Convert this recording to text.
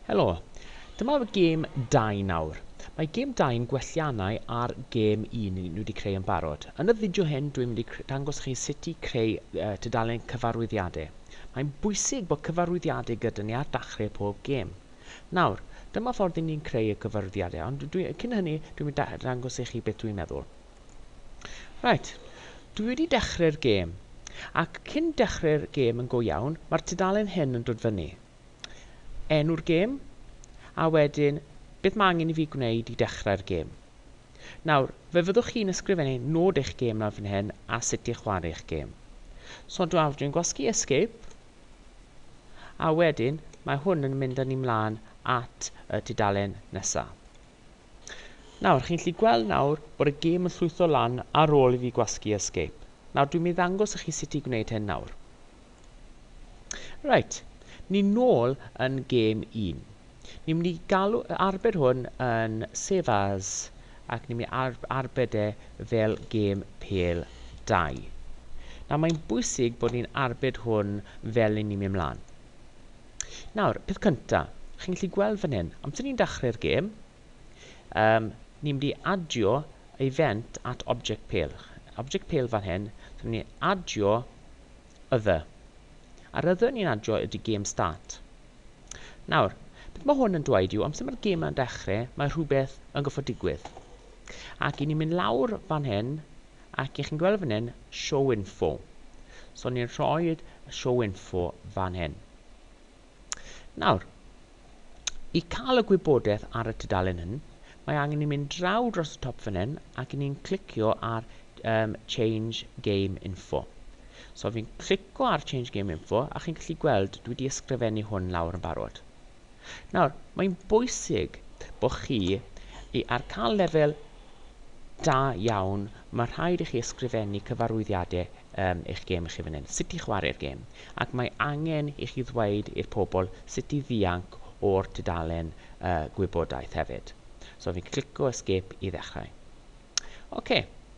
Helo, dyma gêm 2 nawr. Mae gêm 2 yn gwelliannau ar gêm 1 ni wedi creu yn barod. Yn y fideo hyn dwi'n mynd i dangos chi sut i creu uh, tudalen cyfarwyddiadau. Mae'n bwysig bod cyfarwyddiadau gyda ni ar dachrau pob gêm. Nawr, dyma ffordd i ni'n creu y cyfarwyddiadau, ond dwi, cyn hynny dwi'n mynd i dangos i chi beth dwi'n meddwl. Reit, dwi wedi dechrau'r gêm. Ac cyn dechrau'r gêm yn go iawn, mae'r tudalen hyn yn dod fyny. Enw'r gêm, a wedyn beth mae angen i fi gwneud i dechrau'r gêm. Nawr, fe fyddwch chi'n ysgrifennu nod eich gêm lawr fan hyn a sut i chwarae eich gêm. So dwi'n dwi'n gwasgu escape, a wedyn mae hwn yn mynd â ni mlaen at y tudalen nesaf. Nawr, chi'n gallu gweld nawr bod y gêm yn llwytho lan ar ôl i fi gwasgu escape. Nawr, dwi'n mynd i ddangos i chi sut i gwneud hyn nawr. Right, ni'n nôl yn gêm 1. Ni'n mynd i galw arbed hwn yn save as ac ni'n mynd i ar arbed e fel gêm pel 2. Nawr mae'n bwysig bod ni'n arbed hwn fel ni'n mynd mlaen. Nawr, peth cynta, chi'n gallu gweld fan hyn, amser ni'n dachrau'r gêm, um, ni'n mynd i adio event at object pale. Object pale fan hyn, so ni'n mynd i adio other. A'r other ni'n adio ydy game start. Nawr, beth mae hwn yn dweud yw, amser mae'r gêm yn dechrau, mae rhywbeth yn goffod digwydd. Ac i ni'n mynd lawr fan hyn, Ac y'ch chi'n gweld fan hyn, show info. So ni'n rhoi'r show info fan hyn. Nawr, i cael y gwybodaeth ar y tudalen hyn, mae angen ni mynd draw dros y top fan hyn ac ni'n clicio ar um, Change Game Info. So fi'n clicio ar Change Game Info a chi'n gallu gweld dwi wedi ysgrifennu hwn lawr yn barod. Nawr, mae'n bwysig bod chi i ar cael lefel da iawn, mae rhaid i chi ysgrifennu cyfarwyddiadau um, eich gêm i chi fan hyn, sut i chwarae'r gêm, ac mae angen i chi ddweud i'r pobl sut i ddianc o'r tudalen uh, gwybodaeth hefyd. So fi'n clico escape i ddechrau. OK.